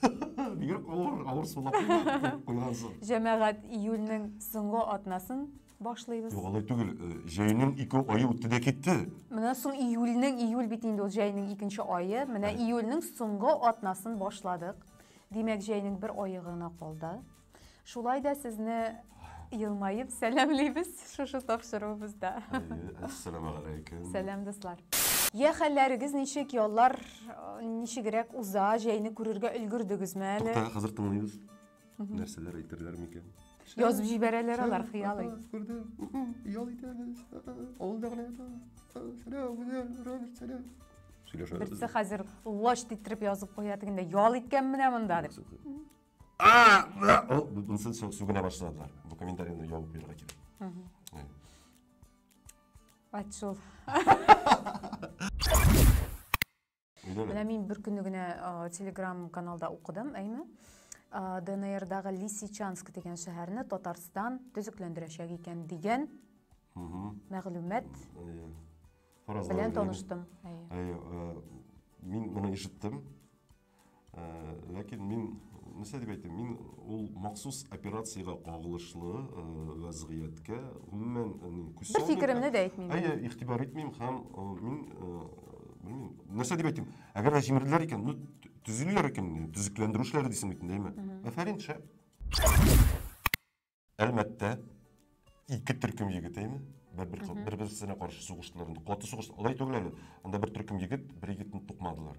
Бигрәк авыр, авыр сулаклы куйган соң. Җәмәгать июльнең соңгы атнасын башлыйбыз. Юк, алай түгел. Э, җәйнең ике ае үтте дә китте. Менә соң июльнең, июль бит инде ул җәйнең икенче айы. Менә июльнең соңгы атнасын башладык. Димәк, җәйнең бер айы гына калды. Шулай да сезне елмаеп сәламлибез шушы тапшыруыбызда. Әссәламу алейкум. Сәлам, дуслар. Я хәлләрегез ничек, яллар э, ничегрәк уза, җәйне күрергә өлгердегезме әле? Тукта, хәзер тыңлыйбыз. Нәрсәләр әйтерләр микән? Язып җибәрәләр алар хыялый. Күрде. Ял итәбез. Авылда гына ята. Сәлам, Гүзәл, Роберт, сәлам. Сөйләшәбез. Берсе хәзер лач титтереп язып куя дигәндә, ял иткән менә монда дип. А! Мынсын сүгенә башладылар. Бу комментарияне ябып бирергә кирәк. Ат шул. Менә мин бер көнне генә Telegram каналда укыдым, әйме? ДНРдагы Лисичанск дигән шәһәрне Татарстан төзекләндерәчәк икән дигән мәгълүмат белән таныштым. Мин моны ишеттем. Ә, ләкин мин, нәрсә дип әйтим, мин ул махсус операциягә кагылышлы ә, вәзгыятькә гомумән ә, ни, күз Бер фикеремне дә әйтмим. Әйе, игътибар итмим һәм ә, мин ә, белмим, нәрсә дип әйтим, әгәр дә җимерделәр икән, ну, төзиләр икән, төзекләндерү эшләре дисең бит инде, әйме? Әфәрин, шәп. Әлмәттә ике төркем егетеме? Бер-бер бер-берсенә каршы сугыштылар. Инде каты сугыш. Алай түгел әле. Анда бер төркем егет, бер егетне тукмадылар.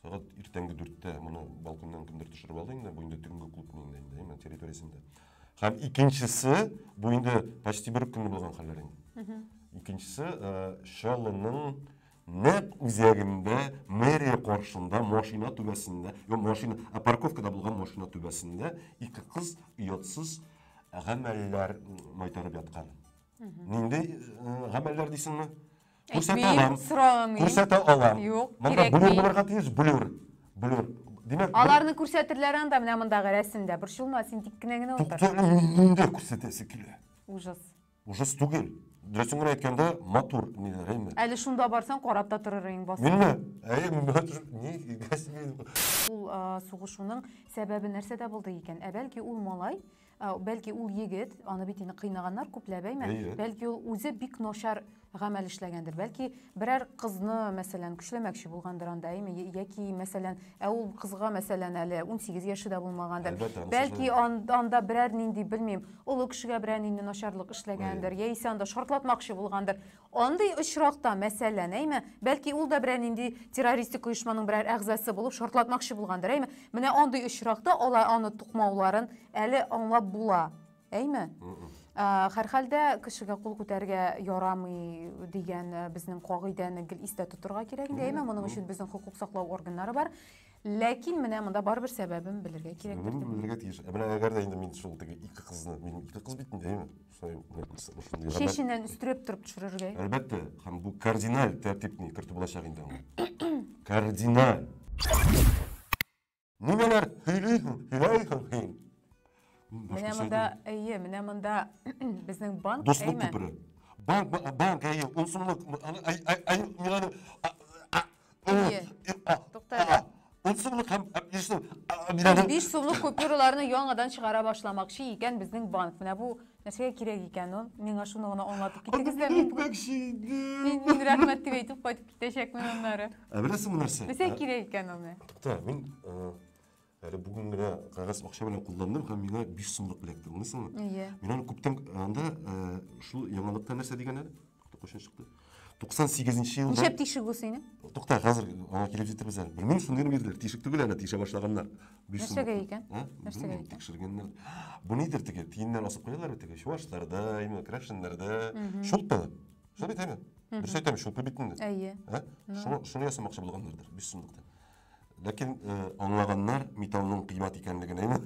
Сәгать иртәнге 4-тә моны балконнан кемдер төшереп алды инде, бу инде төнге клуб инде, әйме, территориясендә. Һәм икенчесе, бу инде почти бер үк көнне булган хәлләр инде. Икенчесе, Шалының Нәкъ үзәгендә, мэрия каршында, машина түбәсендә, юк, машина, ә парковкада булган машина түбәсендә ике кыз оятсыз гамәлләр майтарып яткан. Нинди э, гамәлләр дисеңме? Күрсәтә алам. Сорамыйм. Күрсәтә алам. Юк, Монда блюр булырга тиеш, блюр. Блюр. Димәк, аларны күрсәтерләр анда менә мондагы рәсемдә. Борчылма, син тик кенә генә утыр. Туктале, нинди күрсәтәсе килә? Ужас. Ужас түгел. Дөресен генә әйткәндә, матур ниләр, әйме? Әле шунда барсаң, карап та торыр идең басып. Минме? Әйе, мин бара төшеп, ни игәс мин. Ул сугышуның сәбәбе нәрсәдә булды икән? Ә бәлки ул малай, бәлки ул егет, аны бит инде кыйнаганнар күпләп, әйме? Бәлки ул үзе бик начар гамәл эшләгәндер. Бәлки берәр кызны, мәсәлән, көчләмәкче булгандыр анда, әйме, яки, мәсәлән, ә ул кызга, мәсәлән, әле 18 яше дә булмагандыр. Бәлки анда берәр нинди, белмим, олы кешегә берәр нинди начарлык эшләгәндер, яисә анда шартлатмакчы булгандыр. Андый очракта, мәсәлән, әйме, бәлки ул да берәр нинди террористик оешманың берәр әгъзасы булып шартлатмакчы булгандыр, әйме. Менә андый очракта алар аны тукмауларын әле аңлап була. Әйме? Хәрхәлдә кешегә кул күтәргә ярамый дигән э, безнең кагыйдәне гел истә тотырга кирәк инде. Әйме, моның өчен безнең хукук саклау органнары бар. Ләкин менә монда барыбер сәбәбен белергә кирәк. Сәбәбен белергә тиеш. Ә менә әгәр дә инде мин шул теге ике кызны, мин ике кыз бит инде, әйме? Шулай Шешеннән өстерәп торып төшерергә. Әлбәттә, һәм бу кардиналь тәртипне кертү булачак инде. Кардиналь. Ниләр сөйлисең, сөйләйсең син? Менә монда, әйе, менә монда безнең банк, Дуслык әйме? күпере. Банк, ба- банк, әйе, ун сумлык. м, аны- ай- ай- ай- мин аны- а- а- ул- Әйе. и- а- Тукта әле. а- Ун сумлык һәм һәм биш сум. а, мин аны- Биш сумлык купюраларны яңадан чыгара башламакчы икән безнең банк. Менә бу Нәрсәгә кирәк икән ул? Миңа шуны гына аңлатып китегез дә. Мин әйтмәкче идем. Мин, мин рәхмәт дип әйтеп кайтып китәчәкмен аннары. Ә беләсеңме нәрсә? Нәрсәгә кирәк икән аны? Тукта, мин әле бүген генә кәгазь акча белән кулландым һәм миңа 5 сумлык эләкте, аңлыйсыңмы? Әйе. Мин аны күптән анда шул яңалыкта нәрсә дигән әле? Кайчан чыкты? 98 нче елда. Ничәп тишек бу синең? Тукта, хәзер аңа килеп җитәбез әле. Белмим, шундый бирделәр. Тишек түгел әле, тишә башлаганнар. Нәрсәгә икән? Нәрсәгә икән? Тикшергәннәр. Бу нидер теге, тиеннәр асып куялар бит теге, чуашларда, именно крәшеннәрдә. Шулпы. Шул бит әйме? Дөрес әйтәм, шулпы бит инде. Әйе. Шуны ясамакчы булганнардыр, 5 сумлыктан. Ләкин э, аңлаганнар металлның кыйммәт икәнлеген, әйме?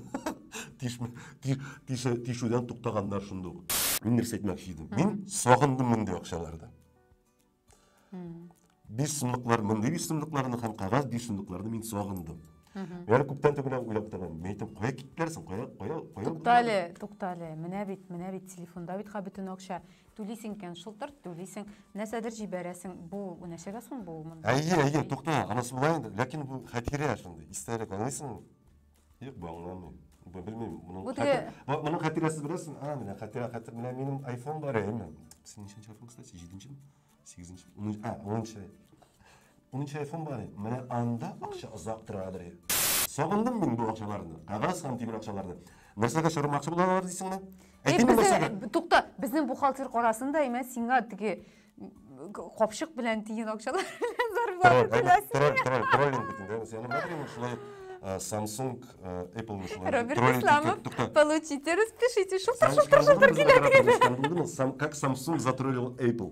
Тишүдән туктаганнар шунда ук. Мин нәрсә әйтмәкче идем? Мин сагындым мондый акчалардан. Биш сумлыклар, мондый биш сумлыкларны һәм кагаз биш сумлыкларны мин сагындым. Менә күптән түгел уйлап торам. Мин әйтәм, кая киттеләр соң? Кая, кая, кая? Туктале, туктале. Менә бит, менә бит телефонда бит бөтен акча. Түлисең икән, шылтырт түлисең, нәрсәдер җибәрәсең. Бу нәрсәгә соң бу? Әйе, әйе, тукта, анысы була инде. Ләкин бу хәтирә шундый, истәлек, аңлыйсыңмы? Юк, бу аңламый. Бу белмим, моның Бу теге- хәтер- бу- моның хәтирәсе беләсең? А, менә хәтирә, хәтер, менә минем айфон бар, әйеме? Синең ничәнче айфон, кстати, җиденчеме? Сигезенче, унынчы, а, унынчы. Минем телефон бар иде. Менә анда акча озак тора бер. Сагындым мин бу акчаларны. Кагаз һәм тимер акчаларны. Нәрсәгә чормакчы булалар дисеңме? Әйтимме нәрсәгә? Тукта, безнең бухгалтер карасын да, имә сиңа теге капчык белән тиен акчалар белән зарплата түләсен. Троллинг, троллинг, троллинг бит инде. Сиңа мәгълүм шулай Samsung, Apple шулай. Роберт Исламов, получите, распишите, шултыр, шултыр, шултыр килә дигән. Как Samsung затроллил Apple.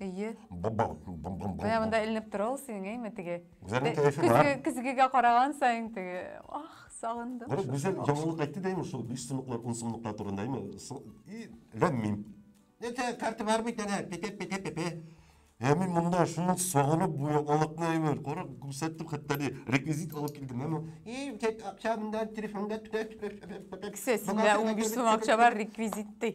Әйе. Менә монда эленеп тора ул синең, әйме, теге. Гүзәлнең кәефе бар. Көзгегә караган саен теге, ах, сагындым. Менә Гүзәл яңалык әйтте дә, шул биш сыныклар, ун сыныклар турында, әйме, и ләм-мим. Нәрсә, карта бар бит әнә, пепе-пепе-пепе. Ә мин монда шуны сагынып бу яңалыкны әйме, кара, күрсәттем хәтта ни, реквизит алып килдем, әйме. И, тек акча монда, телефонда түлә. Кесәсендә 15 сум акча бар, реквизит ди.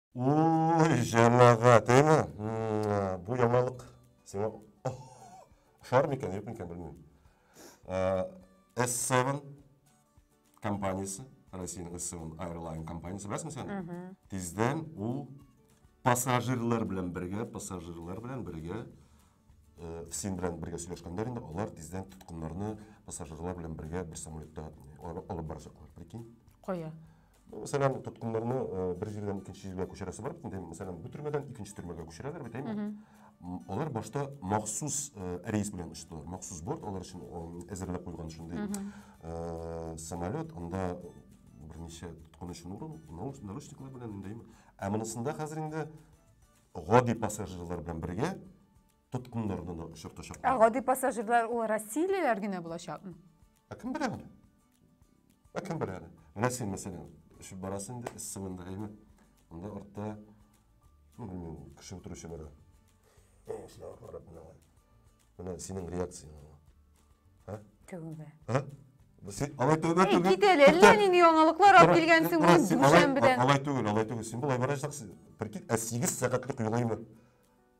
Уй, җәмәгать, әйме? Бу яңалык сиңа ошар микән, юк микән, белмим. S7 компаниясе, Россиянең S7 Airline компаниясе, беләсең сен? Тиздән ул пассажирлар белән бергә, пассажирлар белән бергә син белән бергә сөйләшкәннәр инде, алар тиздән тоткыннарны пассажирлар белән бергә бер самолетта алып барачаклар, прикинь. Кая? Мәсәлән, тоткыннарны бер җирдән икенче җиргә күчерәсе бар бит инде. Мәсәлән, бу төрмәдән икенче төрмәгә күчерәләр бит, әйме? Алар башта махсус рейс белән очтылар. Махсус борт алар өчен әзерләп куйган шундый самолет, анда берничә тоткын өчен урын, наручниклар белән инде, әйме? Ә монысында хәзер инде гади пассажирлар белән бергә тоткыннарны да очыртачаклар. Ә гади пассажирлар ул россиялеләр генә булачакмы? Ә кем белә аны? Ә кем белә әле? Менә син, мәсәлән, эчеп барасың инде, эссең инде, әйме? Анда артта, ну, белмим, кеше утыручы бара. О, сиңа карап менә. Менә синең реакцияң. Ә? Тәүбә. Ә? Син алай тәүбә түгел. Кит әле, әллә нинди яңалыклар алып килгәнсең бу дүшәмбедән. Алай түгел, алай түгел. Син болай барачаксың. Прикинь, ә 8 сәгатьлек юл әйме?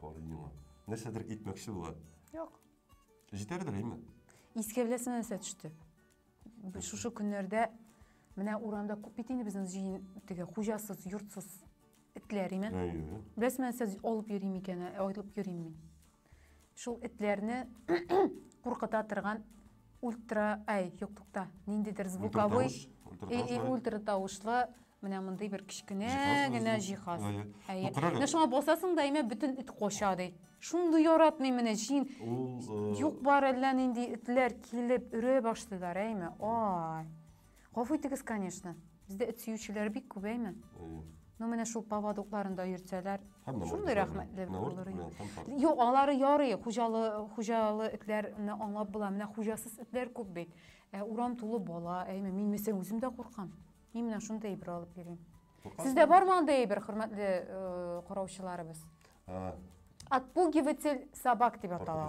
Карый миңа. Нәрсәдер әйтмәкче була. Юк. Җитәрдер, әйме? Искә беләсеме нәрсә төште? Шушы көннәрдә менә урамда күп бит инде безнең җыен теге хуҗасыз, йортсыз этләр име? Әйе. Беләсеме нәрсә алып йөрим икән, ә, аерылып йөрим мин. Шул этләрне куркыта торган ультра, әй, юк, тукта, ниндидер звуковой, ультра тавышлы менә мондый бер кечкенә генә җиһаз әйе менә шуңа басасың да әйме бөтен эт кача ди шундый яратмыйм менә җин юк бар әллә нинди этләр килеп өрә башлыйлар әйме ай Гафу итегез, конечно. Бездә эт сөючеләр бик күп, әйме? Әйе. Ну, менә шул поводокларында йөртсәләр, шундый рәхмәтле булыр иде. Юк, алары ярый, хуҗалы, хуҗалы этләрне аңлап була. Менә хуҗасыз этләр күп бит. Ә урам тулы бала, әйме, мин мәсәлән үзем дә куркам. Мин менә шундый әйбер алып йөрим. Сездә бармы андый әйбер, хөрмәтле караучыларыбыз? Отпугиватель собак дип атала.